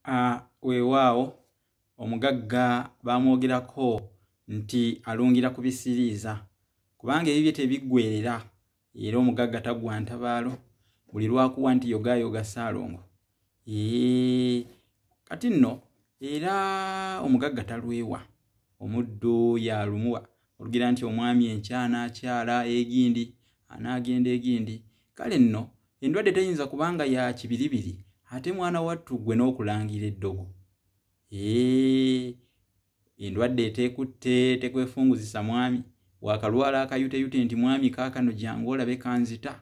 Ah, weewaawo omugagga baamwogerako nti alungira ku bisiriiza kubanga ebibye tebiggwerera era omugagga tagwa ntabaalo buli lwakuwa nti yogaayoga ssaalongo ee kati nno era omugagga talwewa omuddu yalumuwa olugera nti omwami enkya anaakyala egindi anaagenda egindi kale nno endwadde teyinza kubanga ya kibiribiri ate mwana wattu ggwe n'okulangira eddogo ee endwadde eteekutte tekwefunguzisa mwami wakalwala akayuteyute nti mwami kaakano jangu olabe kanzita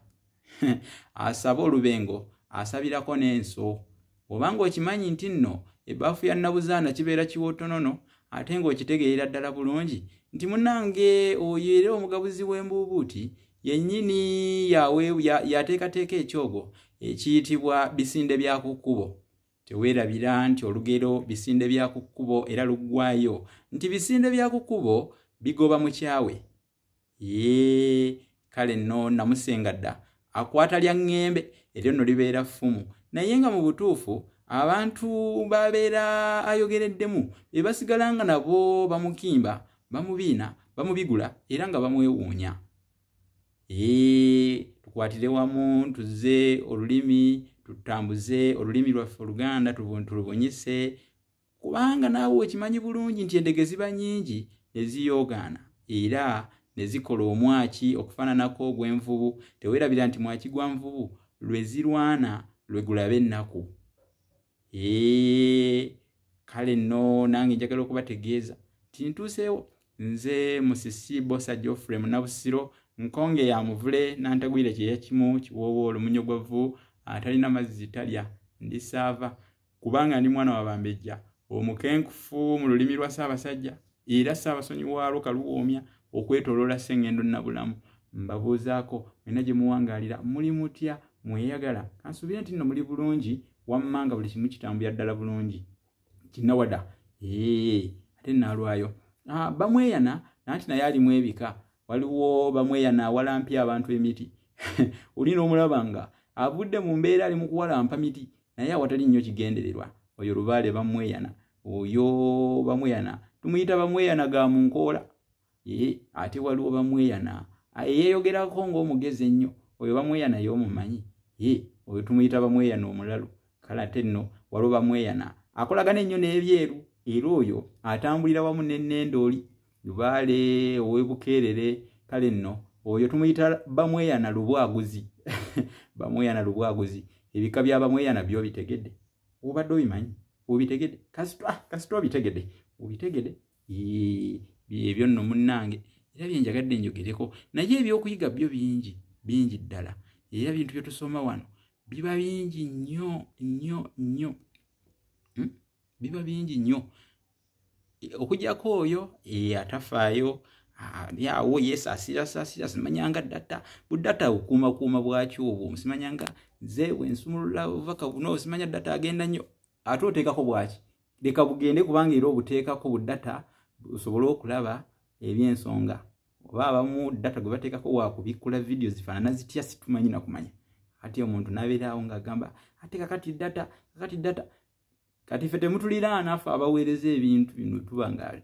asaba olubengo asabirako n'enso oba ng'okimanyi nti nno ebbaafu ya nnabuzaana kibeera kiwootonono ate ng'okitegeerera ddala bulungi nti munange oyo era omugabuzi w'embuubuuti yennyini yateekateeka ekyogo ekiyitibwa bisinde bya ku kkubo teweerabira nti olugero bisinde bya ku kkubo era luggwayo nti bisinde bya ku kkubo bigoba mukyawe yee kale nno namusinga dda akwata lya ŋŋembe eryo nno libeera ffumu naye nga mu butuufu abantu babeera ayogereddemu be basigala nga nabo bamukimba bamubiina bamubigula era nga bamwewuunya ee tukwatire wamu tuze olulimi tutambuze olulimi lwaffe oluganda tulubunyise kubanga naawe okimanyi bulungi nti endege ziba nyingi ne ziyoogaana era ne zikola omwaki okufaananako ogw'envubu teweerabira nti mwaki gwa nvubu lwe zirwana lwe gulabe ennaku ee kale nno nange njagala okubategeeza nti ntuuseewo nze musisi bosa geoffrey munabusiro nkonge ya muvule nantagwire kyeyakimu kiwoowo olumunyo gwa vvu atalina mazzi talya ndisaava kubanga ndi mwana wabambejja omukenkufu mu lulimi lwa ssaabasajja era ssaabasonyi waalwo kaluwoomya okwetoloola ssengendo nabulamu mbabuuzaako mwena gye muwangaalira muli mutya mweyagala kansuubire nti nno muli bulungi wammanga buli kimu kitambulira ddala bulungi kinawada ee ate naalwayo ah, bamweyana nanti naye alimu ebika waliwo bamweyana awalampya abantu emiti olina omulaba nga avudde mu mbeera ali mu kuwalampa miti naye awatali nnyo kigendererwa oyo lubaale bamweyana oyo bamweyana tumuyita bamweyana ga mu nkoola ee ate waliwo bamweyana eyeeyogerako ng'omugezi ennyo oyo bamweyana y'omumanyi ee oyo tumuyita bamweyana omulalu kale ate nno waliwo bamweyana akolagana ennyo n'ebyeru era oyo atambulira wamu n'ennendooli lubaale owebukeerere kale nno oyo tumuyita bamweyana lubwaguzi bamweyana lubwaguzi ebika bya bamweyana byo bitegedde obadde obimanyi obitegedde kasita ah, obitegedde obitegedde ebyo nno munnange era byenjagadde njogereko naye ebyokuyiga byo bingi bingi ddala era bintu byetusoma wano biba bingi nnyo nnyo nnyo hmm? biba bingi nnyo okujako oyo atafaayo awo yesasira sasira simanyanga data budata okuuma kuuma bwaki obwo simanyanga nze wensumulula ovaka buno simanya data agenda nnyo ate oteekako bwaki leka bugende kubanga era obuteekako budata osobole okulaba ebyensonga oba abamu data gwe bateekako wakubikkula vidiyo zifaanana zitya situmanyi nakumanya kati omuntu nabeeraawo ngaagamba ate kakati data kakati data kati ffe temutuliraana ffe abaweereza ebintu bino tuba nga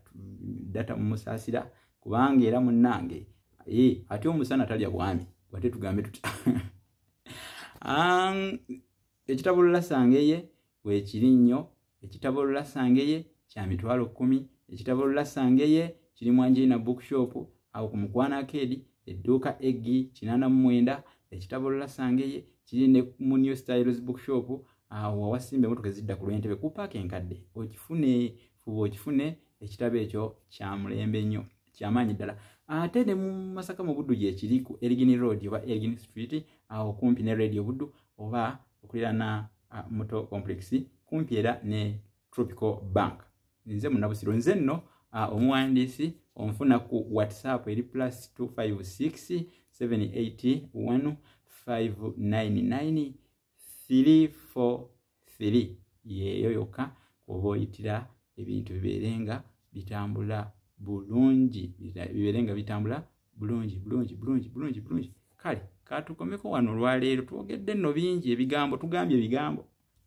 data mumusaasira kubanga era munnange eh, ate omusana talya bwami wate tugambe tutya ekitabo lulasangeye weekiri nnyo ekitabo lulasangeye kya mitwalo kkumi ekitabo lulasangeye kiri mwanjirina bookshop awo ku mukwano akeedi edduuka eggi kinaana mu mwenda ekitabo lulasangeye kiri ne mu new styles bookshop awo wawasimba emotoka ezidda ku lwentebe ku paaka enkadde okifune fuba okifune ekitabo ekyo kya mulembe nnyo kyamaanyi ddala ate ne mu masaka mu buddu gyekiri ku erigini road oba erigini street awo kumpi ne radio buddu oba okulirana muto complex kumpi era ne tropical bank nze munabusiro nze nno omuwandiisi onfuna ku whatsapp eri plus 256 781 599 3 4 3 yeeyo yokka kuba oyitira ebintu bibeere nga bitambula bulungi bibeere nga bitambula bulungi bulungi bulungi bulungi bulungi kale katukomeko wano olwaleero twogedde nno bingi ebigambo tugambye ebigambo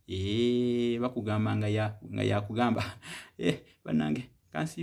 ee bakugamba nga yakugamba eh, banange kansi